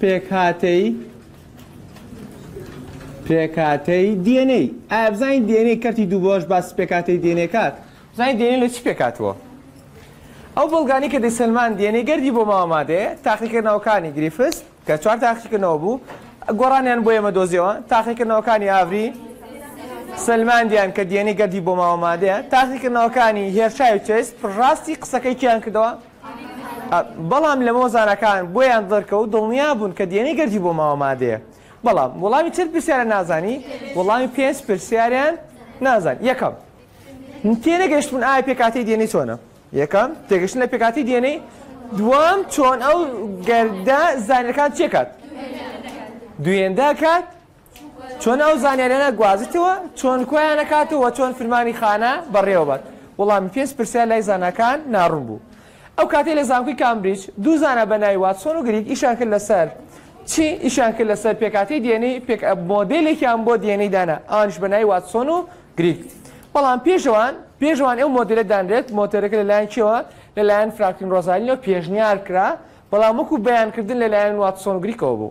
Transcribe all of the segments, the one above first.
پێکهاتەی پێکهاتەی DNA ئایا بزانین DNA کەرتی دوو بەش باسی پێکهاتەی DNA کات بزانین DNA لە چی پێکاتوە ئەو بەڵگانی کە دەیسەلمان DNA گەردی بۆ ماوە مادەیە تاقیکردنەوەکانی گریفس کە چوار تاقیکردنەوە بوو گۆڕانیان بۆ ئێمە دۆزیەوە تاقیکردنەوەکانی ئاڤری سلماندیان کە DNA گەردی بۆ ماوە مادەیە تاقیکردنەوەکانی هێرشای و چێس ڕاستی قسەکەی کیان کردەوە بەڵام لەمەوە زاناکان بۆیان دەرکەوت دڵنیا بوون کە دێنەی گەردی بۆ ماوە مادەیە بەڵام وەڵامی چەند پرسیارە نازانی وەڵامی پێنج پرسیاریان نازان یەکەم تێنەگەشتون ئایا پێکاتی دێنەی چۆنە یەکەم تێگەشتن لە پێکاتی دێنەی دوام چۆن ئەو گەردە زانەکان چێکات دوێندا کات چۆن ئەو زانیاریانە گوازیتەوە چۆن کۆیان نەکات و چۆن فرمانی خانە بەڕێوەبات؟ وەڵامی پێنج پرسیار لای زاناکان ناڕوون بوو. ئەو کاتەی لە زانکۆی کامبریج دوو زانا بە ناوی واتسۆن و گریگ ئیشیان کرد لەسەر چی؟ ئیشیان کرد لەسەر پێکهاتەی DNA، پێک مۆدێلێکیان بۆ DNA دانا، ئەوانیش بە ناوی واتسۆن و گریگ. بەڵام پێش ئەوان پێش ئەوان ئەو مۆدێلە دانرێت، مۆتێلەکە لەلایەن کێوە؟ لەلایەن فرانکلین ڕۆزالینەوە پێشنیار کرا، بەڵام وەکو بەیانکردن لەلایەن واتسۆن و گریگەوە بوو.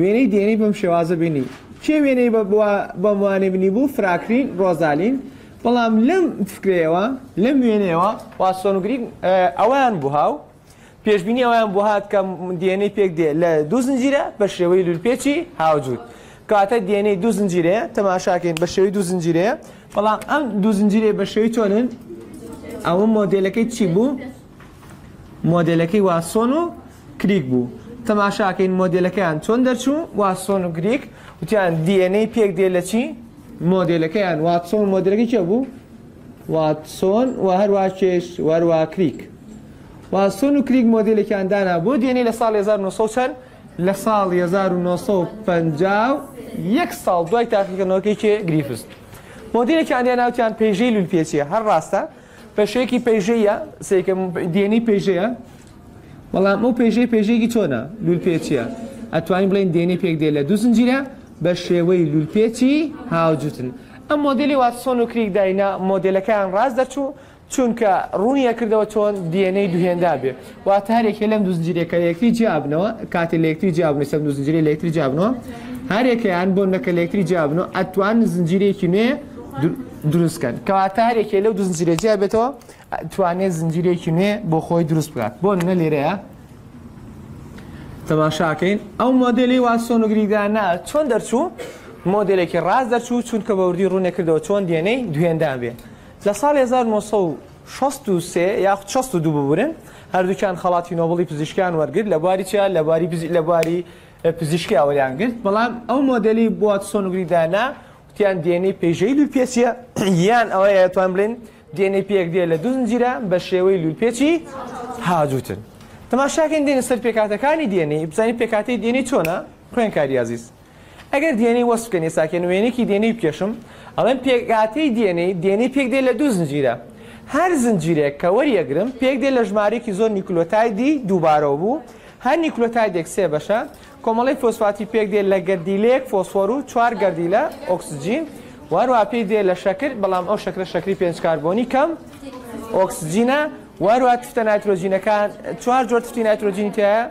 وێنەی دێنی بەم شێوازە بینی. کێ وێنەی بە بوا بەم وانەی بنی بوو فراکرین ڕۆزالین بەڵام لەم فکرەیەوە لەم وێنەیەوە واتسۆن و گریک اه، ئەوەیان بوها و پێشبینی ئەوەیان بوهات کە دێنەی پێک دێ لە دوو زنجیرە بە شێوەی لولپێچی هاوجوور کەواتە دێنەی دوو زنجیرەیە تەماشاکەین بە شێوەی دوو زنجیرەیە بەڵام ئەم دوو زنجیرەیە بە شێوەی چۆنن ئەوە مۆدێلەکەی چی بوو مۆدێلەکەی واتسۆن و کریک بوو تەماشاکەین مۆدێلەکەیان چۆن دەرچوو واتسۆن و گریک وتیان دی ئێن ئەی پێک دێ لە چی مۆدێلەکەیان واتسۆن مۆدێلەکەی کێ بوو واتسۆن و هەروە کێش وەروە کریک واتسۆن و کریک مۆدێلەکەیان دانا بۆ دی ئێن ئەی لە ساڵ 1900 چەند لە ساڵ 1950 یەک ساڵ دوای تاقیکردنەوەکەی کێ گریفز مۆدیلێکیان دێ ناوتیان پێژەی لولپێچیە هەر ڕاستە پێشەیەکی پێژەیە سێکە دێنی پێژەیە بەڵام ئەو پێژەی پێژەیەکی چۆنە لولپێچییە ئەتوانین بڵێن دێنەی پێکدێ لە دوو زنجیرە بە شێوەی لولپێچی هاوجوتن ئەم مۆدێلی واتسۆن و کریک داینا مۆدێلەکەیان ڕاست دەرچوو چونکە ڕوونیە کردەوە چۆن دێنەی دوهێندا بێ واتە هەر یەکێ لەم دوو زنجیرەکە لە یەکتری جیابنەوە کاتێ لە یەکتری جیابنەوە سەم دوو زنجیرە لە یەکتری جیابنەوە هەر یەکەیان بۆ نەکە لە یەکتری جیابنەوە ئەتوان زنجیرێکی نوێ دروستکەن کەواتە هەر یەکێ لەو دوو زنجیرە جیابێتەوە توانێت زنجیرەیەکی نوێ بۆ خۆی دروست بکات بۆ نە لێرەیە تەماشاکەین ئەو مۆدلی واسۆنگریدانە چۆن دەرچوو مۆدلێکی ڕاست دەرچوو چونکە بەوردی ڕوونە کردەوە چۆن دێنەی دوێندان بێ لە ساڵ 1963 یاخود 62 ببورن هەردووکیان خەڵاتی نۆبڵی پزیشکیان وەرگرت لە بواری چیا لە بواری لە بواری پزیشکی ئەوەیان گرت بەڵام ئەو مۆدلی بۆات سۆنگریدانە تیان دی ئێن ئەی پێژەی لولپێچییە یان ئەوەیە توان بڵێن دی ئێن ئەی پێک دێ لە دوو زنجیرە بە شێوەی لولپێچی هاجوتن تەماشاکەین دێنە سەر پێکاتەکانی دی ئێن ئەی بزانین پێکاتی دی ئێن ئەی چۆنە خوێنکاری ئازیز ئەگەر دی ئێن ئەی وەسف بکەن ئێساکەن وێنێکی دی ئێن ئەی بکێشم ئەڵێن پێکاتی دی ئێن ئەی دی ئێن ئەی پێک دێ لە دوو زنجیرە هەر زنجیرێک کە وەریەگرم پێک دێ لە ژمارەیەکی زۆر نیکلۆتایدی دووبارەوە بوو هەر نیکلۆتایدێک سێ بەشە کۆمەڵەی فۆسفاتی پێک دێ لە گەردیلەیەک فۆسفۆر و چوار گەردیلە ئۆکسجین و هەروەها پێی دێ لە شەکر بەڵام ئەو شەکرە شەکری پێنج کاربۆنی کەم ئۆکسجینە و هەروەها تفتە نایترۆجینەکان چوار جۆر تفتی نایترۆجینی تایە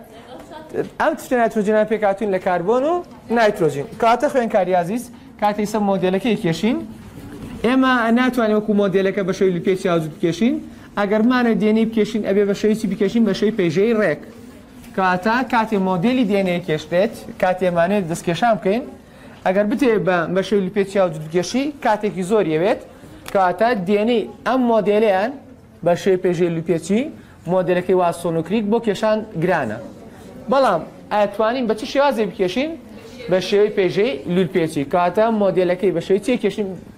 ئەم تفتە نایترۆجینە پێکاتوین لە کاربۆن و نایترۆجین کاتە خوێنکاری عزیز کاتی سە مۆدلەکەی کێشین ئێمە ناتوانین وەکو مۆدلەکە بە شەوی لپێ چاوجود بکێشین ئەگەرمانە دێنەی بکێشین ئەبێ بە شەویی بکێشین بە شەوی پێژەی ڕێک کەواتە کاتێ مۆدێلی دی ئێن ئەی کێش بێت، کاتێ ئەمانەوێت دەستکێشان بکەین، ئەگەر بتەوێت بە مەشەی لوپێ چیا و جوتکێشی کاتێکی زۆری ئەوێت، کەواتە دی ئێن ئەی ئەم مۆدێلەیان بە شێوەی پێژێ لوپێچی مۆدێلەکەی واتسۆن و کریک بۆ کێشان گرانە. بەڵام ئەتوانین بە چ شێوازێک بکێشین؟ بە شێوەی پێژێی لولپێچی. کەواتە مۆدێلەکەی بە شێوەی چی ئەکێشین؟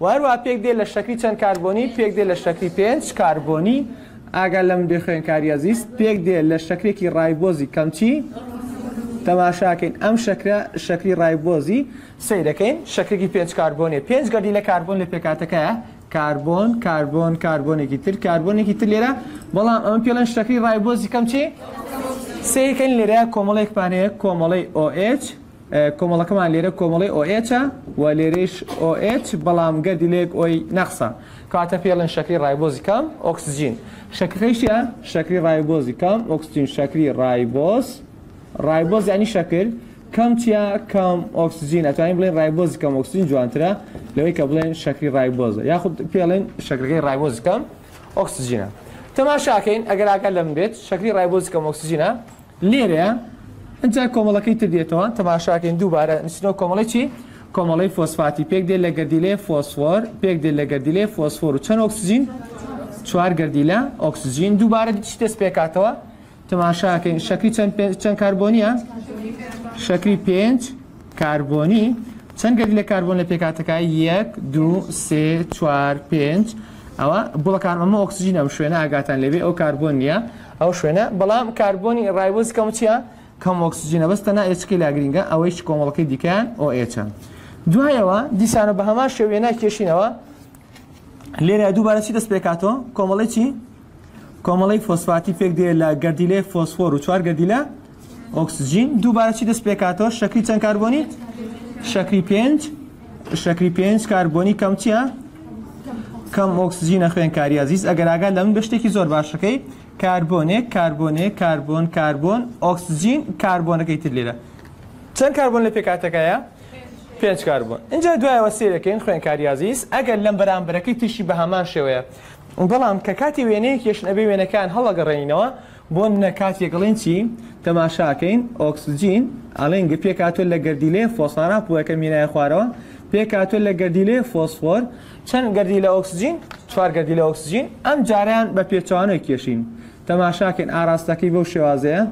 و هەروەها پێک دێ لە شەکری چەند کاربۆنی پێک دێ لە شەکری پێنج کاربۆنی ئاگا لەم بێ خوێنکاری ئەزیز پێک دێ لە شەکرێکی ڕایبۆزی کەمچی تەماشاکەین ئەم شەکرە شەکری ڕایبۆزی سەیرەکەین شەکرێکی پێنج کاربۆنی پێنج گەردی لە کاربۆن لە پێکاتەکەیە کاربۆن کاربۆن کاربۆنێکی تر کاربۆنێکی تر لێرە بەڵام ئەمە پێڵێن شەکری ڕایبۆزی کەمچی سەیرکەین لێرە کۆمەڵێک پانەیە کۆمەڵی OH کۆمەڵەکەمان لێرە کۆمەڵەی OH ە و لێرەیش OH بەڵام گەردی لەیەک Oی نەقسە. کاتە پێڵێن شەکری ڕایبۆزی کام؟ ئۆکسجین. شەکرەکەی چیە؟ شەکری ڕایبۆزی کام؟ ئۆکسجین. شەکری ڕایبۆز، ڕایبۆز یانی شەکر، کەم چیە؟ کەم ئۆکسجین. ئەتوانین بڵێین ڕایبۆزی کەم ئۆکسجین جوانترە لەوەی کە بڵێین شەکری ڕایبۆزە یاخود پێڵێن شەکرەکەی ڕایبۆزی کەم ئۆکسجینە. تەماشاکەین ئەگەر ئاگات لەمن بێت شەکری ڕایبۆزی کەم ئۆکسجینە، لێرەیە ئینجا کۆمەڵەکەی تر دێتەوە تەماشاکەین دووبارە نوسینەوە کۆمەڵەی چی کۆمەڵەی فۆسفاتی پێک دێت لە گەردیلەیە فۆسفۆر پێک دێت لە گەردیلەیە فۆسفۆر و چەند ئۆکسجین چوار گەردیلە ئۆکسجین دووبارە چی دەست پێکاتەوە تەماشاکەین شەکری چەند چەند کاربۆنیە شەکری پێنج کاربۆنی، چەند گەردیلە کاربۆن لە پێکهاتەکە، یەک، دوو، سێ، چوار، پێنج، ئەوە گوڵە کاربۆن، ئەمە ئۆکسجینە، ئەم شوێنە ئاگاتان لێبێ ئەوە کاربۆن نییە، ئەو شوێنە، بەڵام کاربۆنی ڕایبۆزی کەم چییە؟ کەم ئۆکسجینە، بەس تەنها ئێچەکەی لا گرینگە، ئەوەیش کۆمەڵەکەی دیکەیان OH ە. دوایەوە دیسانەوە بە هەمان شێوە وێنای کێشینەوە، لێرە دووبارە چی دەست پێکاتەوە؟ کۆمەڵەی چی؟ کۆمەڵەی فۆسفاتی پێک دێ لە گەردیلەی فۆسفۆر و چوار گەردیلە ئۆکسجین دووبارە چی دەست پێکاتەوە شەکری چەند کاربۆنی شەکری پێنج شەکری پێنج کاربۆنی کەم چییە؟ کەم ئۆکسجینە خوێنکاری ئازیز ئەگەر ئاگا لە من بە شتێکی زۆر باشەکەی کاربۆنێک کاربۆنێک کاربۆن کاربۆن ئۆکسجین کاربۆنەکەی تر لێرە چەند کاربۆن لە پێکاتەکەیە؟ پێنج کاربۆن اینجا دوایەوە سێرەکەین خوێنکاری ئازیز ئەگەر لەم بەرامبەرەکەی ترشی بە هەمان شێوەیە بەڵام کە کاتی وێنەیەک یەشن ئەبێ وێنەکان هەڵەگەڕێنینەوە بۆ نمونە کاتێک ئەڵێن چی تەماشاکەین ئۆکسجین ئەڵێن گە پێکاتۆ لە گەردیلەیە فۆسانا پوەکە مینایە خوارەوە پێکاتۆ لە گەردیلەیە فۆسفۆر چەند گەردی لە ئۆکسجین چوار گەردی لە ئۆکسجین ئەم جاریان بە پێچوانەوە کێشین تەماشاکەین ئاراستەکەی بەو شێوازەیە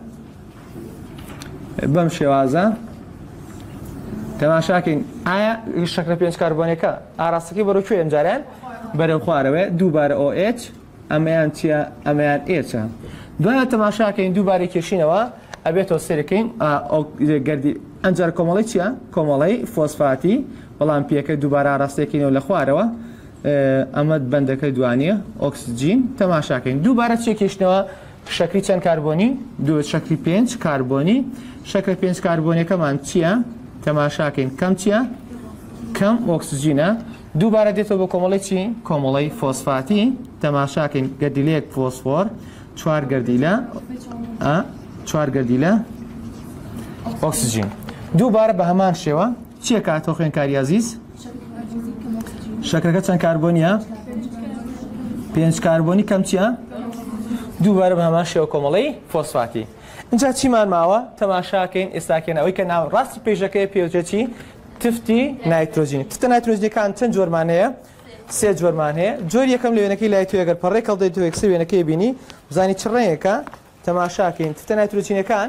بەم شێوازە تەماشاکەین ئایا شەکرە پێنج کاربۆنەکە ئاراستەکەی بەرەکوێ ئەم جاریان بەرەو خوارەوە دووبارە OH ئەمەیان چیە ئەمەیان ئێچە دوایە تەماشاکەین دووبارە کێشینەوە ئەبێتەوە سێرەکەین گردی ئەنجار کۆمەڵی چیە کۆمەڵی فۆسفاتی بەڵام پێەکە دووبارە ڕاستێکینەوە لە خوارەوە ئەمەد بەندەکە دوانە ئۆکسجین تەماشاکەین دووبارە چێکیشتنەوە شەکری چەند کاربۆنی دوو شەکری پێنج کاربۆنی شەکرە پێنج کاربۆنەکەمان چییە تەماشاکەین کەم چییە کەم ئۆکسجینە دووبارە دێتەوە بە کۆمەڵەی چی؟ کۆمەڵەی فۆسفاتی، تەماشاکەین گەردیلەیەک فۆسفۆر چوار گەردیلە چوار گەردیلە ئۆکسجین دووبارە بە هەمان شێوە چیە کاتۆ خوێنکاری عزیز شەکرەکە چەند کاربۆنیە پێنج کاربۆنی کەم چیە دووبارە بە هەمان شێوە کۆمەڵەی فۆسفاتی اینجا چیمان ماوە تەماشاکەین ئێستاکەێن ئەوەی کە ناو ڕاستی پێشەکەی پێوجێتی تفتی نایترۆجینی تفتە نایترۆجینەکان چەند جۆرمان هەیە سێ جۆرمان هەیە جۆر یەکەم لە وێنەکەی لای تو ئەگەر پەڕێک هەڵدەی تو یەکسەر وێنەکەی بینی بزانی چ ڕێیەکە تەماشاکەین تفتە نایترۆجینەکان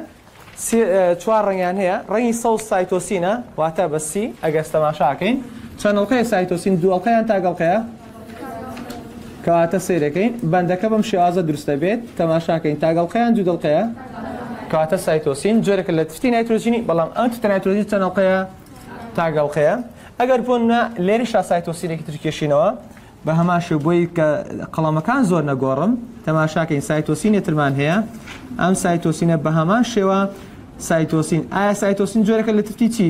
چوار ڕنگیان هەیە ڕنگی سەوز سایتۆسینە واتە بەسی ئەگەر تەماشاکەین چەندڵقەیە سایتۆسین دووەڵقەیان تاگەڵقەیە کەواتە سەیرەکەین بەندەکە بەم شێوازە دروست دەبێت تەماشاکەین تاگەڵقەیان دوو دڵقەیە کەواتە سایتۆسین جۆرەکە لە تفتی نایترۆجینی بەڵام ئەم تفتە نایترۆجین چەند ئەڵقەیە تاگەڵقەیە ئەگەر بۆ نە لێری شاسایتۆسینێکی ترکێشینەوە بە هەمان شێ بۆی کە قەڵەمەکان زۆر نەگۆڕم تەماشاکەین سایتۆسینێ ترمان هەیە ئەم سایتۆسینە بە هەمان شێوە سایتۆسین ئایا سایتۆسین جۆرەکە لە تفتی چی؟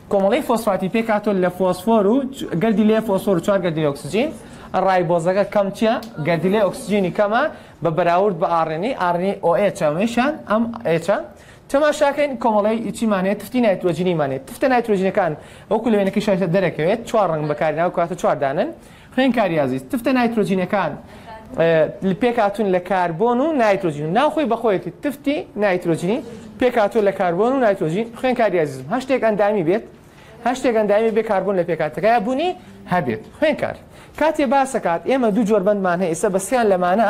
کۆمەڵەی فۆسفاتی پێکهاتووە لە فۆسفۆر و گەردیلەی فۆسفۆر و چوار گەردیلەی ئۆکسجین، ڕایبۆزەکە کەم چیە گەردیلەی ئۆکسجینی کەمە بە بەراورد بە ئاڕێنی، ئاڕێنی ئۆئێچ ئەمەیشان ئەم ئێچە. تەماشاکەین کۆمەڵەی چیمان هەیە تفتی نایترۆجینیمان هەیە، تفتە نایترۆجینەکان وەکو لە وێنەکەی شایستە دەرەکەوێت چوار ڕەنگ بەکارهێناوە کەواتە چوار دانەن، خوێنکاری ئازیز، تفتە نایترۆجینەکان پێکهاتوون لە کاربۆن و نایترۆجین و ناوخۆی بەخۆیەتی تفتی نایترۆجینی پێکهاتوو لە کاربۆن و نایترۆجین خوێنکاری ئازیزم هەر شتێک ئەندامی بێت هەر شتێک ئەندامی بێ کاربۆن لە پێکاتەکەی بوونی هەبێت خوێنکار کاتێ باسەکات ئێمە دوو جۆر بەندمان هەیە ئێستا بەسیان لەمانە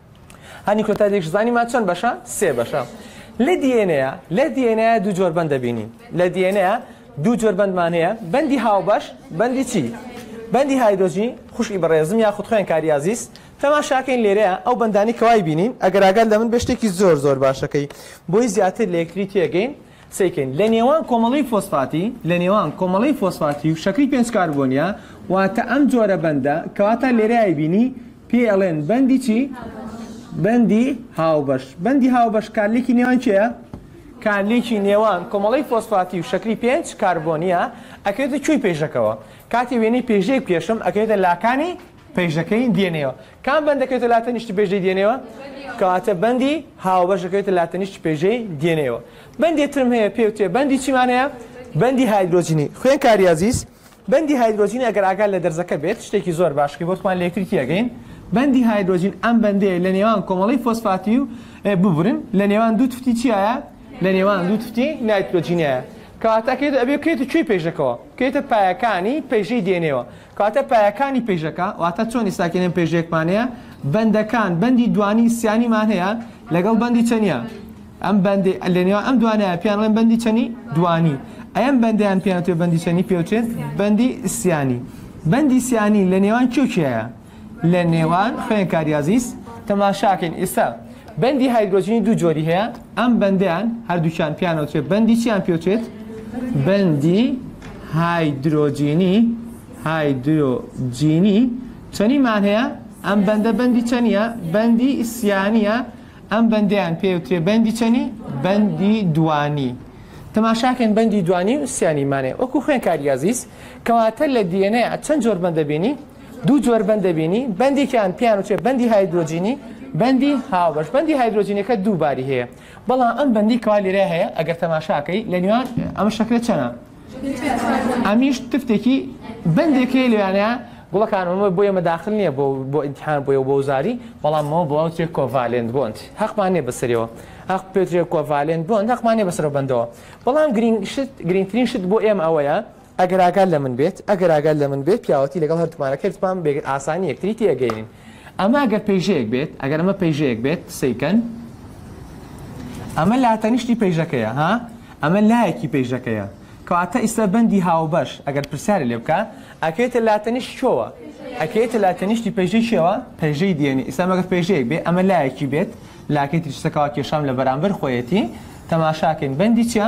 هانی کۆتا دێکش زانی ما چەند بەشە سێ بەشە لە دیێنەیە لە دیێنەیە دوو جۆر بەند دەبینین لە دیێنەیە دوو جۆر بەندمان هەیە بەندی هاوبەش بەندی چی بەندی هایدۆجی خوشی بەڕێزم یا خود خوێن کاریازیست تەماشاکەین لێرەیە ئەو بەندانی کەوای بینین ئەگەر ئاگات لە من بە شتێکی زۆر زۆر باشەکەی بۆی زیاتر لە یەکتری تێگەین سەیکەین لە نێوان کۆمەڵەی فۆسفاتی لە نێوان کۆمەڵەی فۆسفاتی و شەکری پێنج کاربۆنیە واتە ئەم جۆرە بەندە کەواتە لێرە ئەیبینی پێی ئەڵێن بەندی چی بەندی هاوبەش بەندی هاوبەش کارلێکی نێوان کێە کارلێکی نێوان کۆمەڵەی فۆسفاتی و شەکری پێنج کاربۆنیە ئەکرێتە کوێی پێشەکەوە کاتی وێنەی پێشەی کێشم ئەکرێتە لاکانی پێشدەکەین دێنێوە کام بەند دەکەوێتە لا تەنیشت پێشدەی دێنێوە کەواتە بەندی هاوبەش دەکەوێتە لا تەنیشت پێشدەی دێنێوە بەندێ ترم هەیە پێ وتێ بەندی چیمان هەیە بەندی هایدرۆجینی خوێن کاری عزیز بەندی هایدرۆجینی ئەگەر ئاگال لە دەرزەکە بێت شتێکی زۆر باش کە بۆتمان لەکترکی ئەگەین بەندی هایدرۆجین ئەم بەندەیە لە نێوان کۆمەڵی فۆسفاتی و ببرن لە نێوان دوو تفتی چیایە لە نێوان دوو تفتی نایترۆجینایە کەواتەکەێت ئەبێ کێت کوێی پێشەکەەوە کێتە پایەکانی پێشەی دێنێەوە کەواتە پایەکانی پێژەکە، واتە چۆنی ساکێنەن پێژەیەکمان هەیە، بەندەکان، بەندی دوانی سیانیمان هەیە لەگەڵ بەندی چەنیا، ئەم بەندی لەنێوان ئەم دوانەیە پێیان ئەڵێن بەندی چەنی دوانی، ئەم بەندەیان پێیان وترێت بەندی چەنی پێ وترێت بەندی سیانی. بەندی سیانی لە نێوان کێ و کێیە؟ لە نێوان خوێنکاری ئازیز تەماشاکەین ئێستا بەندی هایدرۆجینی دوو جۆری هەیە، ئەم بەندەیان هەردووکیان پێیان ئەوترێت بەندی چیان پێ ئەوترێت؟ بەندی هایدرۆجینی هایدرۆجینی چەنیمان هەیە ئەم بەندە بەندی چەنیە بەندی ئیسیانە ئەم بەندیان پێوترێ بەندی چەنی بەندی دوانی تەماشاکەن بەندی دوانی و سیانیمانێ وەکو خوێن کاریازیز کەواتە لە دیێنەیە چەند جۆر بەندەبینی دوو جۆر بەند دەبینی، بەندێکیان پێیان وترێ بەندی هایدرۆجینی، بەندی هاوبەش. بەندی هایدرۆجینەکە دوو باری هەیە، بەڵام ئەم بەندی کەوا لێرە هەیە ئەگەر تەماشاکەی لە نێوان ئەمە شەکرە چەنە ئەمیش تفتێکی بەندێکی لەوانەیە گوڵەکانەوە بۆ ئێمە داخل نییە بۆ بۆ ئینتحان بۆ بۆ وزاری بەڵامەوە بۆ ئەوترێ کۆڤالێنت بۆند هەقمان نیە بەسەرەوە هەق پێترێ کۆڤالێنت بۆند هەقمان نیە بەسەرەوە بندەوە بەڵام گرینگ شت گرینگترین شت بۆ ئێمە ئەوەیە ئەگەر ئاگات لە من بێت، ئەگەر ئاگات لە من بێت، پیاوەتی لەگەڵ هەردووکمانە کردمان، بێ ئاسانی یەکتری تێئەگەیەنین. ئەمە ئەگەر پەیژەیەک بێت، ئەگەر ئەمە پەیژەیەک بێت، قسەی کەن. ئەمە لاتەنیشتی پەیژەکەیە، ها؟ ئەمە لایەکی پەیژەکەیە. کەواتە ئیستا بەندی هاوبەش، ئەگەر پرسیارێ لێ بکا، ئەکەوێتە لاتەنیشت کوێوە؟ ئەکەوێتە لاتەنیشتی پەیژەی کێوە؟ پەیژەی دێنی. ئیستا ئەمە گەر پەیژەیەک بێ، ئەمە لایەکی بێت، لاکەی تریش سەکەوە کێشام لە بەرامبەر خۆیەتی. تەماشا کەن، بەندی چیە؟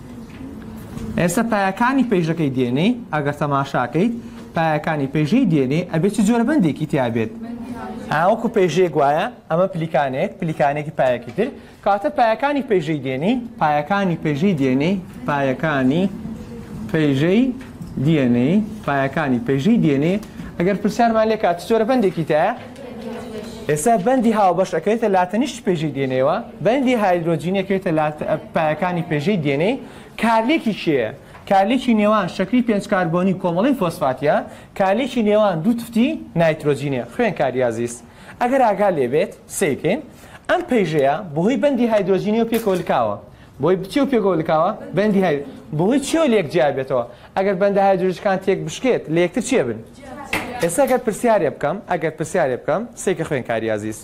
ئێستا پایەکانی پەیژەکەی دێنێی ئەگەر تەماشاکەیت پایەکانی پەیژەی دێنێ ئەبێ چ جۆرە بەندێکی تیابێت ئاوەکو پێژێک وایە ئەمە پلیکانێک پلیکانێکی پایەکی تر کاتە پایەکانی پێژەی دێنی پایەکانی پێژەی دێنێ پایەکانی پێژەی دێنێ پایەکانی پێژەی دێنێ ئەگەر پرسیارمان لێکات چۆرە بەندێکی تایە ئێستا بەندی هاوبەش ئەکەوێتە لاتەنیشت پێژەی دێنەیەوە، بەندی هایدرۆجین ئەکەوێتە لات پایەکانی پێژەی دێنەی، کارلێکی کێیە؟ کارلێکی نێوان شەکری پێنج کاربۆنی کۆمەڵەی فۆسفاتیە، کارلێکی نێوان دوو تفتی نایترۆجینە. خوێنکاری ئازیز ئەگەر ئاگا لێبێت سەیرکەین ئەم پەیژەیە بەهۆی بەندی هایدرۆجینەوە پێکەوە لکاوە، بۆی بچێ و پێکەوە لکاوە بەندی هاید بەهۆی چیەوە لێک جیا بێتەوە ئەگەر بەندە هایدرۆجەکان تێک بشکێت لە یەکتر چێ بن ئێستا گەر پرسیارێ بکەم ئەگەر پرسیارێ بکەم سێکە خوێنکاری ئازیز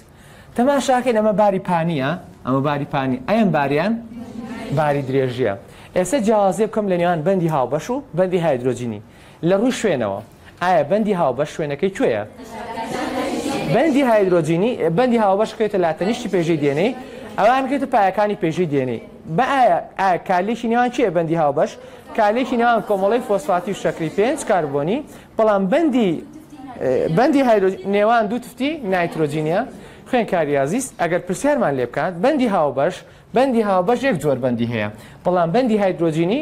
تەماشاکەین ئەمە باری پانیە ئەمە باری پانی ئەم باریان باری درێژیە ئێستا جیاوازێ بکەم لە نێوان بەندی هاوبەش و بەندی هایدرۆجینی لە ڕووی شوێنەوە ئایا بەندی هاوبەش شوێنەکەی کوێیە؟ بەندی هایدرۆجینی بەندی هاوبەش کەوێتە لاتەنیشتی پێژەی دێنەی ئەوان کەوێتە پایەکانی پێژەی دێنەی بە ئایا ئایا کارلێکی نێوان چیە بەندی هاوبەش کارلێکی نێوان کۆمەڵی فۆسفاتی و شەکری پێنج کاربۆنی بەڵام بەندی بەندی هایدرۆج نێوان دوو تفتی نایترۆجینە خوێن کاریازیس ئەگەر پرسیارمان لێ بکات بەندی هاوبەش بەندی هاوبەش یەک جۆر بەندی هەیە، بەڵام بەندی هایدرۆجینی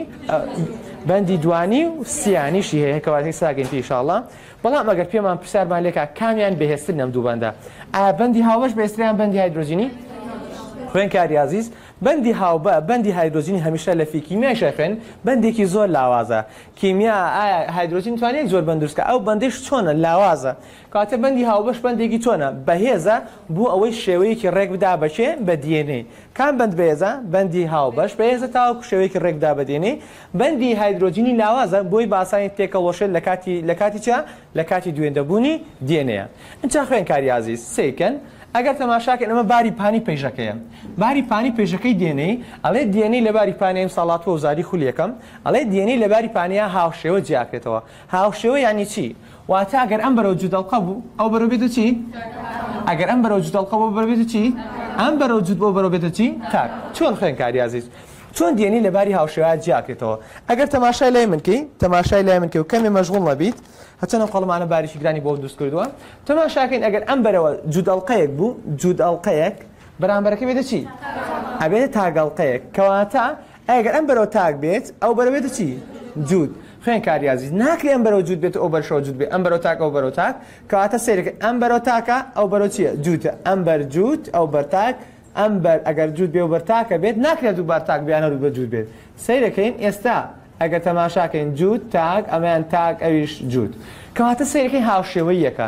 بەندی دوانی و سیانیشی هەیە کەواتەی ساگەین پێ ئیشاڵڵا، بەڵام ئەگەر پێمان پرسیارمان لێکا کامیان بەهێزتر نەم دوو بەندە ئایا بەندی هاوبەش بەهێزتریان بەندی هایدرۆجینی؟ خوێنکاری ئازیز بەندی هاوبە بەندی هایدرۆجینی هەمیشە لە فیکیمیای شەخێن بەندێکی زۆر لاوازە کیمیا ئایا هایدرۆجین توانێت زۆر بەندروستکە ئەو بەندش چۆنە لاوازە کاتێ بەندی هاوبەش بەندێکی چۆنە، بەهێزە، بۆ ئەوەی شێوەیەکی ڕێک بدا بە کێ؟ بە دی ئێن ئەی. کام بەند بەێزە؟ بەندی هاوبەش بەێزە تاوەکو شێوەیەکی ڕێک بدا بە دی ئێن ئەی. بەندی هایدرۆجینی لاوازە بۆی باسانی تێکەڵوەشێت لە کاتی لە کاتی چیا؟ لە کاتی دوێندەبوونی دی ئێن ئەیە. ئینچا خوێنکاری ئازیز سەیر کەن ئەگەر تەماشا کەن ئەمە باری پانی پەیژەکەیە. باری پانی پەیژەکەی دی ئێن ئەی ئەڵێ دی ئێن ئەی لە باری پانی ئەیمسا ڵاتوە و زاری خولی یەکەم ئەڵێ دی ئێن ئەی لە باری پانیا هاوشێوە جیاکرێتەوە. هاوشێوە یانی چی؟ واتە ئەگەر ئەم بەرەو جووت ئەڵقە بوو ئەو بەرەو بێتە چی؟ ئەگەر ئەم بەرەو جووت ئەڵقە بۆ بەرەو بێتە چی؟ ئەم بەرەو جووت بۆ بەرەو بێتە چی؟ تاک چۆن خوێنکاری ئازیز چۆن دی ئێن ای لە باری هاوشێوەیە جیا کرێتەوە ئەگەر تەماشای لای من کەی تەماشای لای من کەی و کەمێ مەشغوڵ نەبیت هەچەن ئەم قەڵەمانە باریکی گرانی بۆ دروست کردووە تەماشا کەین ئەگەر ئەم بەرەوە جووت ئەڵقەیەک بوو جووت ئەڵقەیەک بەرامبەرەکە بێتە چی؟ ئەبێتە تاک ئەڵقەیەک کەواتە ئەی گەر ئەم بەرەوە تاک بێت ئەو بەرە بێتە چی؟ جووت. خوێنکار ریاضی، ناکرێ ئەم بەرەوە جووت بێت و ئەو بەرشەوە جووت بێت، ئەم بەرەوە تاک ئەو بەرەوە تاک، کەواتە سەیرکە ئەم بەرەوە تاکە ئەو بەرەوە چیە؟ جووتە، ئەم بەر جووت ئەو بەر تاک، ئەم بەر ئەگەر جووت بێ و بەر تاکە بێت ناکرێ هەردوو بار تاک بیان هەردوو بەر جووت بێت، سەیرەکەین ئێستا ئەگەر تەماشاکەین جووت تاک ئەمەیان تاک ئەویش جووت کەواتە سەیرەکەی هاوشێوەییەکە.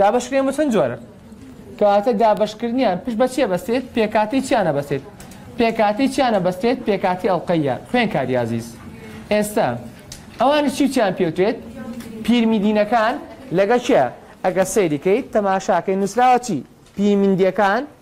دابەشکرێن بۆ چەند جۆرن؟ کەواتە دابەشکردنیان پشت بە چی ئەبەستێت؟ پێکهاتەی چیان ئەبەستێت؟ پێکهاتەی چیان ئەبەستێت؟ پێکهاتەی ئەڵقەییە. خوێنکاری ئازیز، ئێستە ئەوانی چی و چیان پێوترێت؟ پیرمیدینەکان. لەگەڵ کێ ئەگەر سەیری کەیت تەماشاکەی نووسراوە چی؟ پیرمیندیەکان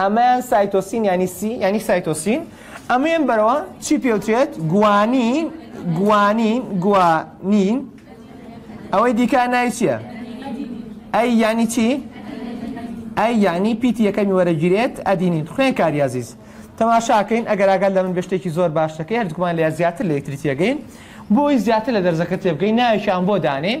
ئەمەیان سایتۆسین یانی سی یانی سایتۆسین ئەمەیان بەرەوە چی پێوترێت گوانین گوانین گوانین ئەوەی دیکە ناوی چییە ئەی یانی چی ئەی یانی پیتی یەکەمی وەرەگیرێت ئەدینین خوێن کاری عزیز تەماشاکەین ئەگەر ئاگەر لە من بەشتێکی زۆر باشەکەی هەردووکمان لە زیاتر لە یەکتری تێگەین بۆی زیاتر لە دەرزەکە تێبگەین ناوێکیان بۆ دانێن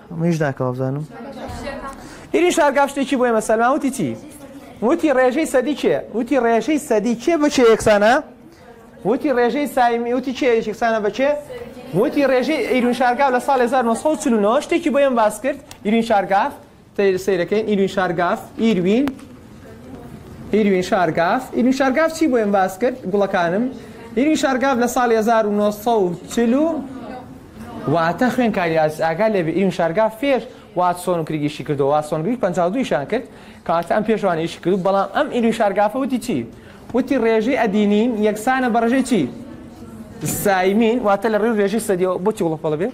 منیش ناکەم وابزانم ئیری شارگا شتێکی بۆ ئێمە سەلمان وتی چی وتی ڕێژەی سەدی کێ وتی ڕێژەی سەدی کێ بچێ یەکسانە وتی ڕێژەی سایمی وتی کێ یەکسانە بچێ وتی ڕێژەی ئیرون شارگا لە ساڵ 1940 شتێکی بۆ ئێم باس کرد ئیرین شارگاف سیرەکەین ئیرین شارگاف ئیروین ئیروین شارگاف ئیروین شارگاف چی بۆ ئێمە باس کرد گوڵەکانم ئیروین شارگاف لە ساڵی 1940 و واتە خوێنکاری ئاگا لێ ئیروین شارگاف فێر واتسۆن و کریگیشی کردو واتسۆن گریک 52 شان کرد کاتە ئەم پێشوان ئیشی کرد بەڵام ئەم ئیروین شارگافە وتی چی وتی ڕێژەی ئەدینین یەکسانە بە ڕژەی چی سایمین واتە لە ڕێژەی سەدیەوە بۆ چی وڵە پەڵە بێت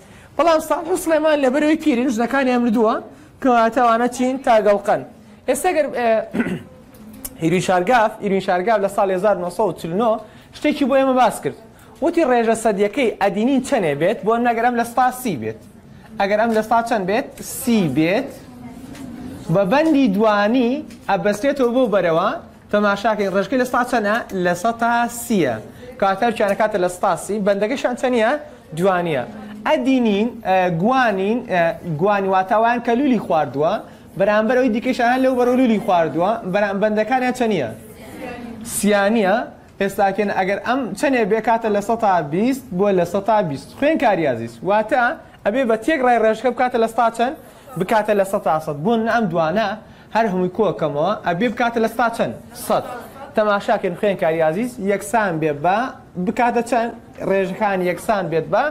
بەڵام ساڵح و سڵێمان لەبەرەوەی پیرین ژنەکانیان مردووە کەواتە ئەوانە چین تاگەڵقەن ئێستا گەر ئیروین شارگاف ئیروین شارگاف لە ساڵی 1940 شتێکی بۆ ئێمە باس کرد وتی ڕێژە سەدیەکەی ئەدینین چەنێ بێت بۆ نەگەر ئەم لە ستا سی بێت ئەگەر ئەم لە ستا چەند بێت سی بێت بە بەندی دوانی ئەبەستێتەوە بۆ بەرەوە تەماشاکەی ڕێژەکەی لە سەتا چەنە؟ لە سەتا سیە. کاتە و کیانەکاتە لە سەتا سی. بەندەکەشیان چەنیە؟ دوانیە. ئەدینین، گوانین، گوانی واتە ئەوان کە لولی خواردووە، بەرامبەر ئەوی دیکەش ئەوان لەو بەرەو لولی خواردووە، بەرام بەندەکانیان چەنیە؟ سیانیە. ئێستا کێن ئەگەر ئەم چەنێ بێ کاتە لە سەتا بیست بۆ لە سەتا بیست. خوێنکاری ئازیز، واتە ئەبێ بە تێکڕای ڕێژەکە بکاتە لە سەتا چەن؟ بکاتە لە سەتا سەد. بۆ نمونە ئەم دوانە هەر هەمووی کۆ ئەکەمەوە ئەبێ بکاتە لە ستا چەن؟ سەد. تەماشا کەن خوێنکاری ئازیز یەکسان بێ بە بکاتە چەن؟ ڕێژەکانی یەکسان بێت بە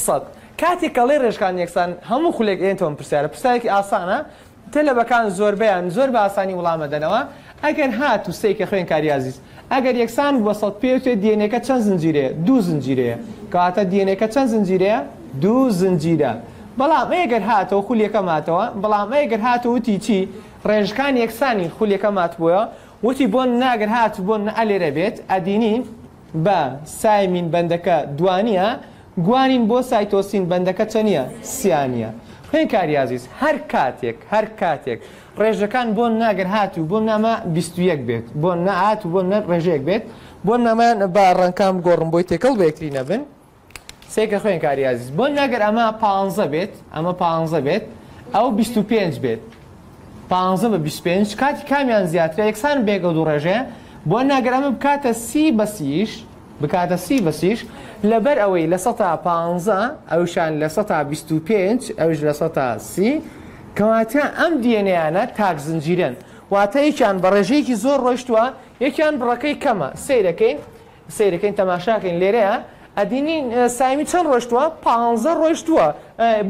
سەد. کاتێک کە ئەڵێ ڕێژەکانی یەکسان هەموو خولێک ئەیەنتە ئەم پرسیارە، پرسیارێکی ئاسانە، تەلەبەکان زۆربەیان زۆر بە ئاسانی وڵام ئەدەنەوە، ئەگەر هاتوو سەیکە خوێنکاری ئازیز. ئەگەر یەکسان بووبەسەد پێوترێ دی ئێن ئێکە چەند زنجیرەیە دوو زنجیرەیە کەواتە دی ئێن ئێکە چەند زنجیرەیە دوو زنجیرە بەڵام ئەی گەر هاتەوە خولیەکە ماتەوە بەڵام ئەی گەر هاتە وتی چی ڕێژکان یەکسانی خولیەکە ماتبووە وتی بۆن ناگەر هات بۆن نە ئەلێرە بێت ئەدینی بە سایمین بەندەکە دوانیە گوانین بۆ سایتۆسین بەندەکە چەنە سیانە خوێن کاریازیز هەر کاتێک هەر کاتێک ڕێژەکان بۆ نا گەر هات و بۆ ناما بیست و یەک بێت بۆ نا هات و بۆ نەر ڕێژەیەک بێت بۆ نامان با ڕەنکان بگۆڕم بۆی تێکەڵ بە یەکتری نەبن سێکە خوێن کاری ئازیز بۆ ناگەر ئەمە پانزە بێت ئەمە پانزە بێت ئەو بیست و پێنج بێت پانزە بە بیست پێنج کاتی کامیان زیاترە یەکسان بێگە دوو ڕێژەیە بۆ ناگەر ئەمە بکاتە سی بەسیش بکاتە سی بە سیش لەبەر ئەوەی لە سەتا پانزە ئەوشان لە سەتا بیست و پێنج ئەوش لە سەتا سی کەواتە ئەم دیێنەیانە تاک زنجیرەن واتە یەکیان بە ڕێژەیەکی زۆر ڕۆیشتوە یەکیان بڕەکەی کەمە سەیرەکەین سەیرەکەین تەماشاکەین لێرەیە ئەدینین سایمی چەند ڕۆشتووە پانزە ڕۆشتووە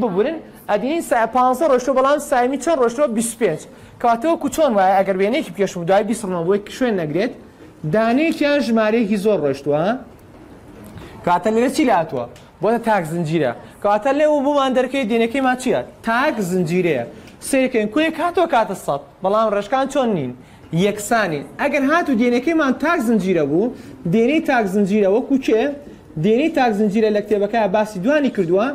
ببورن ئەدینین سا پانزە ڕۆشتوە بەڵام سایمی چەند ڕۆشتوە 25 کاتەوە کوچۆن وایە ئەگەر وێنێکی پێشم دوای بیسڕمە بۆی شوێن نەگرێت دانەیەکیان ژمارەیەکی زۆر ڕۆشتووە ها کاتە لێرە چی لاتوە بۆە تاک زنجیرە کاتە لێ و بۆمان دەرکەی دێنەکەی ما چیە تاک زنجیرەیە سێکەین کوێ کاتۆ کاتە سەد بەڵام ڕێشکان چۆن نین یەکسانی ئەگەر هات و دێنەکەیمان تاک زنجیرە بوو دێنەی تاک زنجیرە وەکو کێ دێنەی تاک زنجیرە لە کتێبەکە باسی دوانی کردووە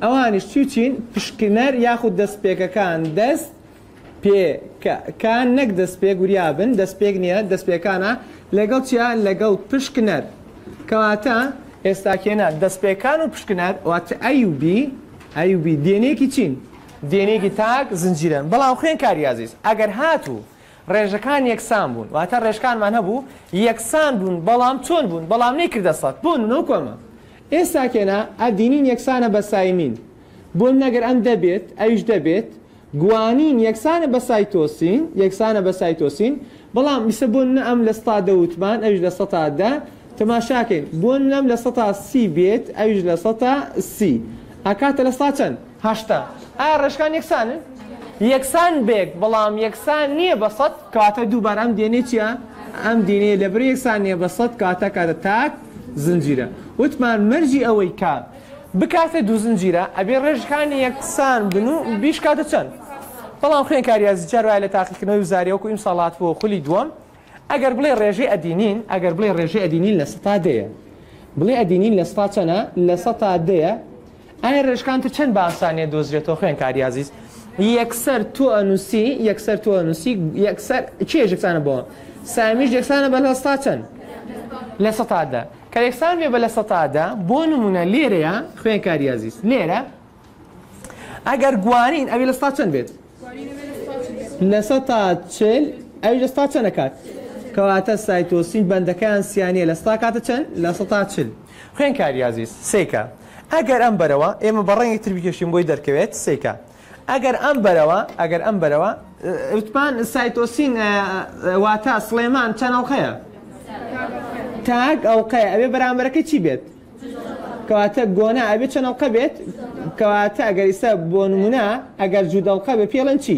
ئەوانیش چی چین پشکنەر یاخود دەستپێکەکان دەست پێ کە کە نەک دەستپێک وریا بن دەستپێک نییە دەستپێکانە لەگەڵ چیا لەگەڵ پشکنەر کەواتە ئێستاکێنە دەستپێکان و پشکنەر وات ئەی و بی ئەی و بی دێنێکی چین دێنێکی تاک زنجیرەن بەڵام خوێن کاری ئازیز ئەگەر هاتوو ڕێژەکان یەکسان بوون واتە ڕێژکانمان هەبوو یەکسان بوون بەڵام چۆن بوون بەڵام نەی کردە سەد بۆ نو کۆمە ئێستاکێنە ئەدینین یەکسانە بە سایمین بۆ نەگەر ئەم دەبێت ئەویش دەبێت گوانین یەکسانە بە سایتۆسین یەکسانە بە سایتۆسین بەڵام ئیسە بۆ نە ئەم لە ستا دە وتمان ئەویش لە سەتا دە تەماشاکەین بۆ نەم لە سەتا سی بێت ئەویش لە سەتا سی ئەکاتە لە ستا چەند هەشتا ئایا ڕێژکان یەکسانن؟ یەکسان بێک بەڵام یەکسان نییە بە سەد کەواتە دووبارە ئەم دێنەی چییە؟ ئەم دێنەی لەبەر یەکسان نییە بە سەد کەواتە کاتە تاک زنجیرە وتمان مەرجی ئەوەی کە. بکاتە دوو زنجیرە ئەبێ ڕێژەکانی یەکسان بن و بیشکاتە چەند؟ بەڵام خوێنکار ریاضی چار وایە لە تاقیکردنەوەی وزاری وەکو ئیمساڵ هاتبووە خولی دووەم ئەگەر بڵێ ڕێژەی ئەدینین ئەگەر بڵێ ڕێژەی ئەدینین لە سەتا دەیە بڵێ ئەدینین لە سەتا چەنە لە سەتا دەیە ئایا ڕێژکان تر چەند باسانیە دۆزرێتەوە خوێنکار یازیز یەکسەر تۆ ئەنووسی یەکسەر تۆ ئەنووسی یەکسەر چێژێکسانە بۆ سامیش یەکسانە بە لە سەتا چەند لە سەتا دە کە یەکسان بێ بە لە سەتا دە، بۆ نموونە لێرەیا، خوێنکاری ئازیز، لێرە ئەگەر گوانین ئەوی لە سەتا چەند بێت؟ لە سەتا چل ئەوی لە سەتا چەند ئەکات؟ کەواتە سایتۆسین بەندەکەیان سیانیە لە سەتا کاتە چەند؟ لە سەتا چل. خوێنکاری ئازیز، سێکە. ئەگەر ئەم بەرەوە ئێمە بە ڕەنگێکی تر بکێشین بۆی دەرکەوێت، سێکە. ئەگەر ئەم بەرەوە ئەگەر ئەم بەرەوە وتمان سایتۆسین واتە سڵێمان چەند ئەڵقەیە تاک ئەڵقەیە ئەوێ بەرامبەرەکە چی بێت کەواتە گۆنا ئەبێت چەند ئەڵقە بێت کەواتە ئەگەر ئیستا بۆ نمونە ئەگەر جوودەڵقە بێ پێڵەن چی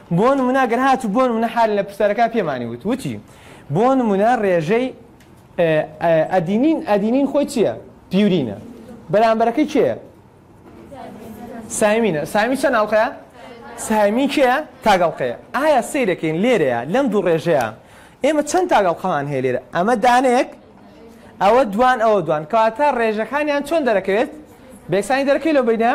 بۆ نمونە گەر هاتو بۆ نمونە حالن لە پرسیارەکە پێمانی وت وتی بۆ نمونە ڕێژەی ئەدینین ئەدینین خۆی چییە پیورینە بەرامبەرەکەی کێە سایمینە سامی چەند ئەڵلقەیە سامی کێە تاگەڵقەیە ئایا سیرەکەین لێرەیە لەم دوو ڕێژەیە ئێمە چەند تاگەڵقەمان هەیە لێرە ئەمە دانەیەک ئەوە دوان ئەوە دوان کەواتە ڕێژەکانیان چۆن دەرەکەوێت بێکسانی دەرەکەی لەو بینە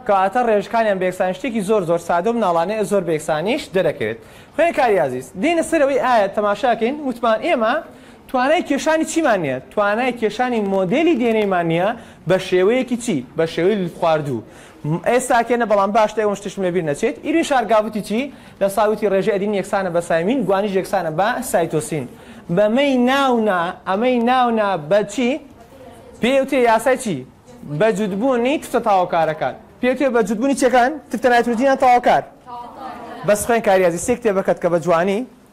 کەواتە ڕێژکانیان بێکسان شتێکی زۆر زۆر سادە و مناڵانەیە زۆر بێکسانیش دەرەکەوێت خوێن کاری عزیز دێنە سەرەوەی ئایا تەماشاکەین وتمان ئێمە توانای کێشانی چیمان نییە توانای کێشانی مۆدلی دێنەیمان نییە بە شێوەیەکی چی بە شێوەی خواردوو م ئێ ساکێنە بەڵام باشتە ئێوەم شتشم لە بیر نەچێت ئیرین شار گاڤتی چی لە سا وتی ڕێژەی ئەدینین یەکسانە بە سایمین گوانیش یەکسانە بە سایتۆسین بە مەی ناو نا ئەمەی ناو نا بە چی پێی وتێ یاسای چی بە جوت بوونی تفتە تاوەکارەکان پێی وتێ بە جوت بوونی چەکان تفتە نایترۆجینان تاوەکار بەس خوێن کاریازی سێ کتێبەکەت کە بە جوانی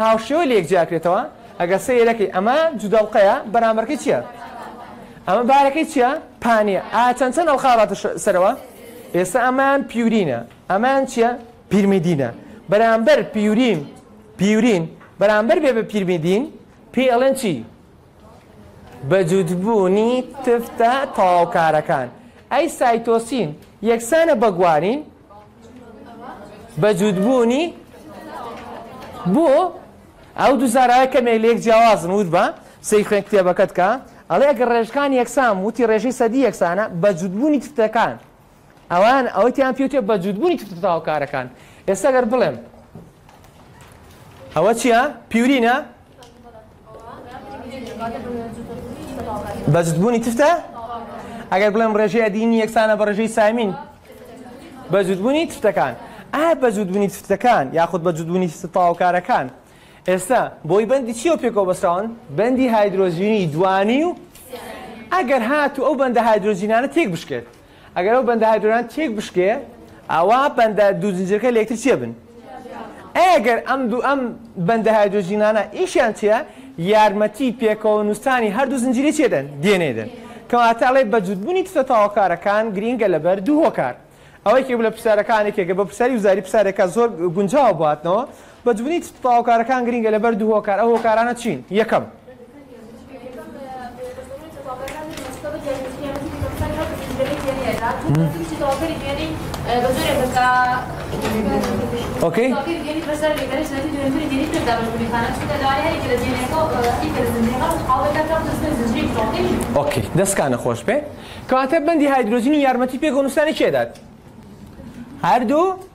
هاوشێوە لە یەک جیاکرێتەوە ئەگەر سەیرەکەی ئەمە جودەڵقەیە بەرامبەرکەی چیە ئەمە بارەکەی چیە پانیە ئا چەند چەند ئەڵقا هاتە سەرەوە ئێستا ئەمان پیورینە ئەمان چیە پیرمیدینە بەرامبەر پیورین پیورین بەرامبەر بێ بە پیرمیدین پێ ئەڵێن چی بەجووتبوونی تفتە تەواوکارەکان، ئەی سایتۆسین یەکسانە بە گوانین؟ بەجووتبوونی بۆ ئەو دوو زاراوەی کەمێک لێک جیاوازن وت بە سەی خوێن کتێبەکەت کە ئەڵێ ئەگەر ڕێژەکان یەکسان وتی ڕێژەی سەدی یەکسانە بەجووتبوونی تفتەکان ئەوان ئەوەی تیان پێوتێ بە جووتبوونی تفت بتاوە کارەکان ئێستا گەر بڵێم ئەوە چییە پیورینە بەجدبوونی تفتە ئەگەر بڵێم ڕێژەی ئەدینی یەکسانە بە ڕێژەی سامین بەجدبوونی تفتەکان ئا بەجدبوونی تفتەکان یاخود بەجدبوونی تاوکارەکان ئێستا بۆی بەندی چیە پێکەوە بەسراون بەندی هایدرۆژینی دوانی و ئەگەر هات و ئەو بەندە هایدرۆژینانە تێک بشکێت ئەگەر ئەو بەندە هایدرۆنان تێک بشکێ ئەوا بەندە دوو زنجیرەکە لە یەکتر چێ بن ئەی ئەگەر ئەم دوو ئەم بەندە هایدرۆجینانە ئیشیان چیە یارمەتی پێکەوە نووسانی هەردوو زنجیری چێدەن دێنێدن کەواتە ئەڵێ بەجوودبوونی تتە تاوەکارەکان گرینگە لەبەر دوو هۆکار ئەوەیکی لە پرسیارەکانێکێکە بە پرسیاری وزاری پرسیارەکە زۆر گونجاوە باتنەوە بەدبنی تەواوکارەکان گرینگە لەبەر دوو هۆکار ئەو هۆکارانە چین یەکەم. ئۆکەی ئۆکەی دەستکانە خۆش بێ کەواتە بەندی هایدرۆجینی یارمەتی پێ گۆنستانی چێدات هەردوو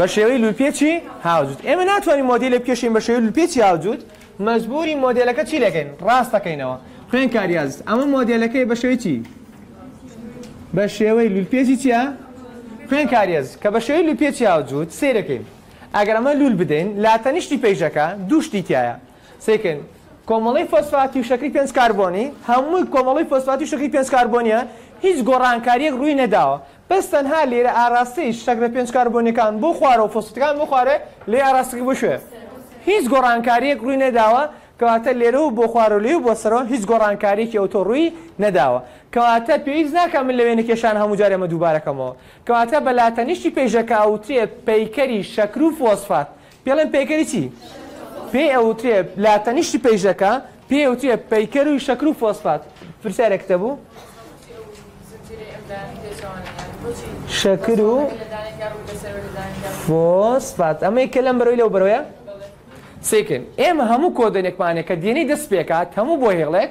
بەشێوەی لولپێچی هاوجوت ئێمە ناتوانین مۆدیلە بکێشین بەشێوی لولپێچی هاوجوت مەزبوری مۆدیلەکە چی لەکەین ڕاستەکەینەوە خوێن کاریاز ئەمە مۆدیلەکەی بەشێوی چی بە شێوەی لولپێچی چیە خوێن کاریێز کە بە شێوی لولپێچی هاوجووت سیرەکەین ئەگەر ئەمە لول بدەین لا تەنیشتی پێیشەکە دووشتی تایە سێکن کۆمەڵی فۆسفاتی و شەکری پێنج کاربۆنی هەمووی کۆمەڵی فۆسفاتی و شەکری پێنج کاربۆنیە هیچ گۆڕانکاریەک ڕووی نەداوە بەس تەنها لێرە ئاراستەی شەکرە پێنج کاربۆنیەکان بۆ خوارە و فۆسفەتەکان بۆ خوارێ لێ ئاراستەکە بۆ کوێ هیچ گۆڕانکاریەک ڕووی نەداوە کەواتە لێرە و بۆ خوارە و لێ و بۆ سەرەوە هیچ گۆڕانکاریەکی ئەوتۆ ڕووی نەداوە کەواتە پێویست ناکا من لە وێنە کێشان هەموو جارێ ئەمە دووبارە کەمەوە کەواتە بە لاتەنیشتی پەیژەکە ئەوترێ پەیکەری شەکر و فۆسفات پێڵێن پەیکەری چی؟ پێی ئەوترێ لە تەنیشتی پەیژەکە پێی ئەوترێ پەیکەر و شەکر و فۆسفات پرسیارێکتە بوو شەکر و فۆسفات ئەمەی کە لەم بەرەوەی لەو بەرەوەیە سێکن ئێمە هەموو کۆدەنێکمانێک کە دێنەی دەست پێکات هەموو بۆ هێڵێک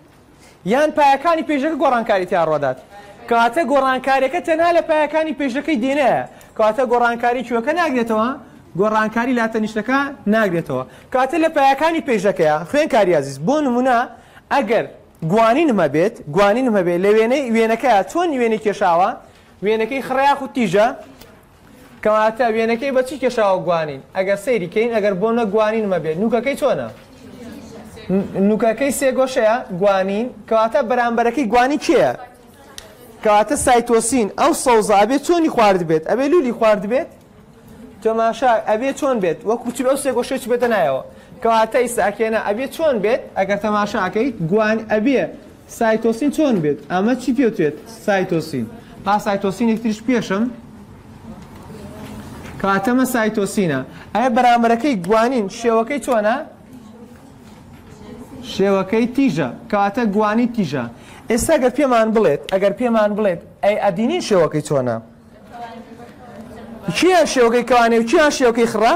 یان پایەکانی پێشەکە گۆڕانکاری تیا ڕۆدات کەواتە گۆڕانکاریەکە تەنها لە پایەکانی پێشەکەی دێنەیە کەواتە گۆڕانکاری کوێکە ناگرێتەوە گۆڕانکاری لاتەنیشتەکە ناگرێتەوە کاتە لە پایەکانی پێشەکەیە خوێن کاریازیز بۆ نمونە ئەگەر گوانینم هەبێت گوانینم هەبێت لە وێنەی وێنەکە چۆن وێنەی کێشاوە وێنەکەی خڕیاخ و تیژە کەواتە وێنەکەی بە چی کێشاوە گوانین ئەگەر سەیری کەین ئەگەر بۆ نە گوانینمە بێت نوکەکەی چۆنە نوکەکەی سێگۆشەیە گوانین کەواتە بەرامبەرەکەی گوانی کێە کەواتە سایتۆسین ئەو سەوزە ئەبێت چۆنی خوارد بێت ئەبێ لولی خوارد بێت تۆماشا ئەبێ چۆن بێت وەکو چی ئەو سێگۆشەی بێتە نایەوە کەواتە ئیساکێنە ئەبێ چۆن بێت ئەگەر تەماشاکەیت گوان ئەبێ سایتۆسین چۆن بێت ئەمە چی پێوترێت سایتۆسین؟ با سایتۆسینێک تریش پێشم کاتەمە سایتۆسینە ئەە بەرامبەرەکەی گوانین شێوەکەی چۆنە شێوەکەی تیژە کاتە گوانی تیژە ئێستا گەر پێمان بڵێت ئەگەر پێمان بڵێت ئەی ئەدینین شێوەکەی چۆنە کیان شێوەکەی کەوانێ و کیان شێوەکەی خڕە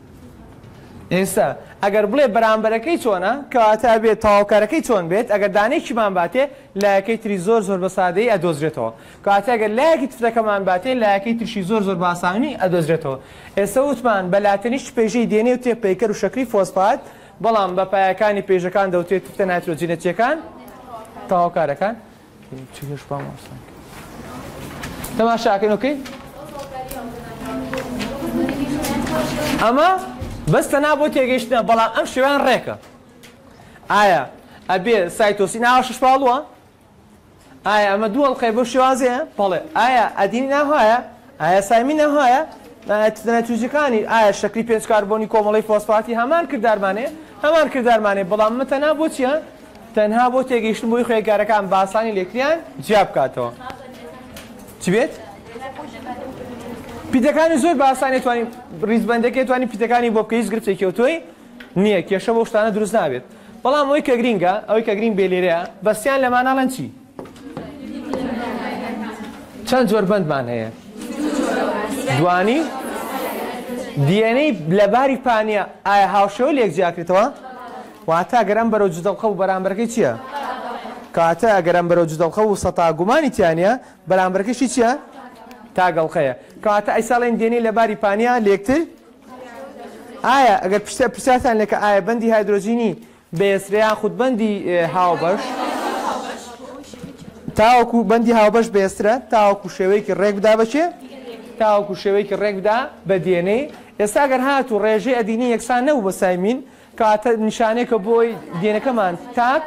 ئێستا ئەگەر بڵێ بەرامبەرەکەی چۆنە کەواتە ئەبێ تەواوکەرەکەی چۆن بێت ئەگەر دانەیەکیمان باتێ لایەکەی تری زۆر زۆر بە سادەیی ئەدۆزرێتەوە کەواتە ئەگەر لایەکی تفتەکەمان باتێ لایەکەی تریشی زۆر زۆر باسانیی ئەدۆزرێتەوە ئێستا وتمان بە لاتەنیشت پێژەی دێنێ و تێ پەیکەر و شەکری فۆسفات بەڵام بە پایەکانی پێژەکان دەوترێ تفتە نایترۆجینەتییەکان تەواوکارەکان تەماشاکەن ئۆکەی ئەمە بەس تەنا بۆ تێگەیشتنە بەڵام ئەم شێوان ڕێکە ئایا ئەبێ سایتۆسی ناوە شش پاڵووە ئایا ئەمە دوو ئەڵلقەی بۆ شێوازەیە بەڵێ ئایا ئەدینی ناهایە ئایا سامی نەهایە توزیکانی ئایا شکلی پێنج کاربۆنی کۆمەڵی فۆسفاتی هەمان کردارمانێ هەمان کردارمانێ بەڵام متەنا بۆچیە تەنها بۆ تێگەیشتن بۆی خوێنکارەکان باسانی لێکریان جیا بکاتەوە چ بێت؟ پیتەکانی زۆر باسانێ توانین ریزبندەکە توانی پیتەکانی بۆ بکە هیچ گرتێکی تۆی نییە کێشە بۆ شتانە دروست نابێت بەڵام ئەوی کە گرینگە ئەوی کە گرین بێ لێرەیە بەسیان لەماناڵەن چی چەند جۆر بەندمان هەیە دوانی دیێنەی لەباری پانە ئایا هاوشەوە لێک جیاکرێتەوە واتە گەرم بەرەو جدەڵقە و بەرامبەرەکەی چییە؟ کاتە گەرم بەرەو جدەڵقە و سەتا گومانی تیانە بەرامبەرەکەشی چییە؟ تاگەڵقەیە کاتە ئەی ساڵێن دێنەی لەباری پانە لێکتر ئایا ئەگەر پشتە پرسیارتان لەکە ئایا بەندی هایدرۆجینی بێسرێ یاخود بەندی هاوبەش. تاوەکو بەندی هاوبەش بێسرە تاوەکو شێوەیەکی ڕێک بدا بە چێ؟ تاوەکو شێوەیەکی ڕێک بدا بە دێنەی. ئێستا گەر هاتوو ڕێژەی ئەدینی یەکسان نەبوو بە سای مین، کەواتە نیشانەیەکە بۆی دێنەکەمان تاک.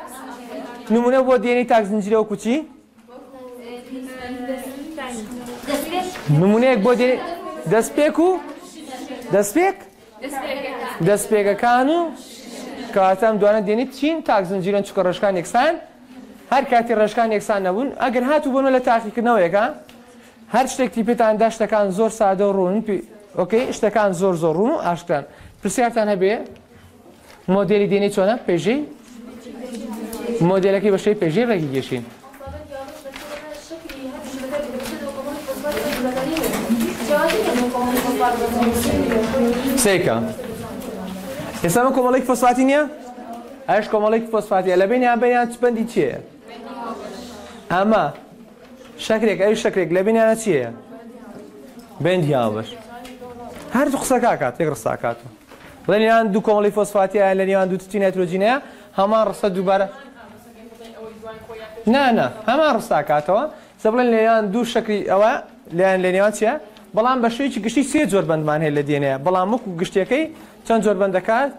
نموونە بۆ دێنەی تاک زنجیرە وەکو چی؟ نموونەیەک بۆ دێنەی دەستپێک و دەستپێک دەستپێگەکان و کەواتە ئەم دوانە دێنیت چین تاک زنجیرەن چکە ڕێژکان یەکسان هەر کاتی ڕێژکان یەکسان نەبوون ئەگەر هاتو بۆنە لە تاقیکردنەوەیەکە هەر شتێکتی پێتان دا شتەکان زۆر سادە و ڕوون ئۆکەی شتەکان زۆر زۆر ڕوون و ئاشکران پرسیارتان هەبێ مۆدێلی دێنەی چۆنە پێژەی مۆدێلەکەی بەشەی پێژەی ڕێکی گەشین سێکە ئێستا من کۆمەڵێک فۆسفاتی نییە ئەش کۆمەڵێک فۆسفاتیە لە بینیان بینیان چ بەندی چیە ئەمە شەکرێک ئەوی شەکرێک لە بینیانە چیە بەندی هاوبەش هەر قسەکە کات تێک ڕستاکات لە نێوان دوو کۆمەڵی فۆسفاتیە لە نێوان دوو تتی نایترۆجینەیە هەمان ڕستە دووبارە نانا هەمان ڕستاکاتەوە سە بڵێن لێیان دوو شکری ئەوە لەیان لە نێوان چیە بەڵام بە شوێکی گشتی سێ زۆر بەندمان هەیە لە دێنەیە بەڵام وەکو گشتەکەی چەند زۆر بەندەکات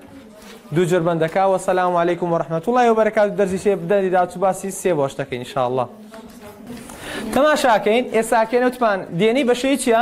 دوو زۆر بەندەکە وە سەسلام و عیکم و ڕحمەت وڵی و بەرەکات دەرزی سێ بدەری داچ باسی سێ بۆشتەکەی انشاءله تەماشاکەین ئێساکەێنەوتمان دێنی بەشەی چیە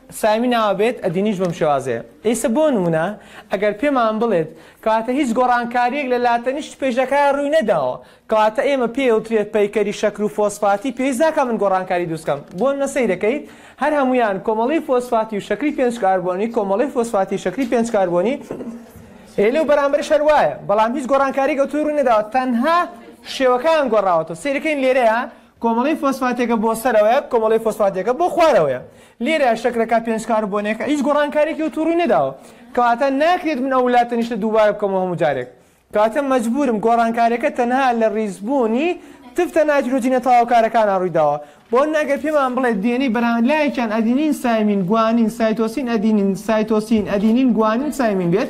سامی ناوە بێت ئەدینیش بەم شێوازەیە ئیسە بۆ نمونە ئەگەر پێمان بڵێت کەواتە هیچ گۆڕانکاریەک لە لاتەنیشت پێشەکەیا رووی نەداوە کەواتە ئێمە پێ وترێت پەیکەری شەکر و فۆسفاتی پێویست ناکا من گۆڕانکاری دروست کەم بۆ نمونە سەیرەکەیت هەر هەموویان کۆمەڵەی فۆسفاتی و شەکری پێنج کاربۆنی کۆمەڵەی فۆسفاتی شەکری پێنج کاربۆنی ئێ لەو بەرامبەرش هەر وایە بەڵام هیچ گۆڕانکاری گەوتووی رووی نەداوە تەنها شێوەکەیان گۆڕاوەتەوە سەیرەکەین لێرەیە کۆمەڵەی فۆسفاتێکە بۆ سەرەوەیە، کۆمەڵەی فۆسفاتێکە بۆ خوارەوەیە. لێرە شەکرەکە پێنج کاربۆنێکە، هیچ گۆڕانکاریەکی ئەوتۆ ڕووی نەداوە. کەواتە ناکرێت من ئەو ولاتەنیشتە دووبارە بکەمەوە هەموو جارێک. کەواتە مەجبوورم گۆڕانکاریەکە تەنها لە ڕیزبوونی تفتە نایترۆجینە تەواوکارەکانا ڕوویداوە. بۆ نمونە ئەگەر پێمان بڵێت دی ئێن ئەی بەرامبەر لایەکیان ئەدینین سایمین گوانین سایتۆسین ئەدینین سایتۆسین ئەدینین گوانین سایمین بێت،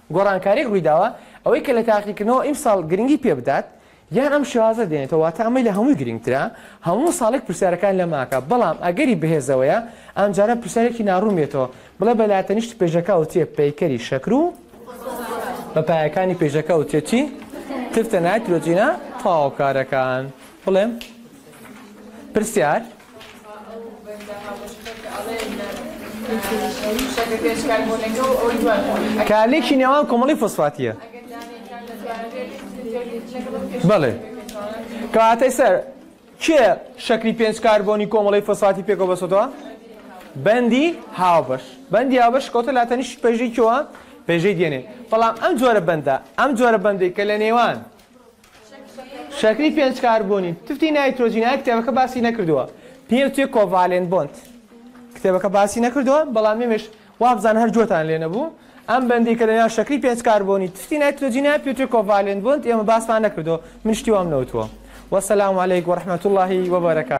گۆڕانکاریەک ڕوویداوە ئەوەی کە لە تاقیکردنەوە ئیمساڵ گرنگی پێ بدات یان ئەم شێوازە دێنێتەوە واتە ئەمەی لە هەمووی گرنگترە هەموو ساڵێک پرسیارەکان لە ماکە بەڵام ئەگەری بەهێزەوەیە ئەمجارە پرسیارێکی ناڕوون بێتەوە بڵێ بە لاتەنیشت پێژەکە ئەوترێ پەیکەری شەکر و بە پایەکانی پێژەکە ئەوترێ چی تفتە نایترۆجینە تەواوکارەکان بڵێم پرسیار کارلێکی نێوان کۆمەڵی فۆسفاتیە بەڵێ کەواتەی سەر کێ شەکری پێنج کاربۆنی کۆمەڵی فۆسفاتی پێکەوە بەسەدەوە بەندی هاوبەش بەندی هاوبەش کەوتە لاتەنیش پێژێکیەوە پێژەی دێنێ بەڵام ئەم جۆرە بەندە ئەم جۆرە بەندێک کە لە نێوان شەکری پێنج کاربۆنی تفتی نایترۆجین های کتێبەکە باسی نەکردووە پێم توێ کۆڤالێن بۆند کتێبەکە باسی نەکردووە بەڵام ئێمەش وابزان هەر جۆتان لێ نەبوو ئەم بەندی کە لەناو شەکری پێنج کاربۆنی تفتی نایترۆجینە پێ توێ کۆڤالێن بۆند ئێمە باسمان نەکردووە من شتی وام نەوتووە وەسەلام علیک وەرحمەت اللهی وبەرەکات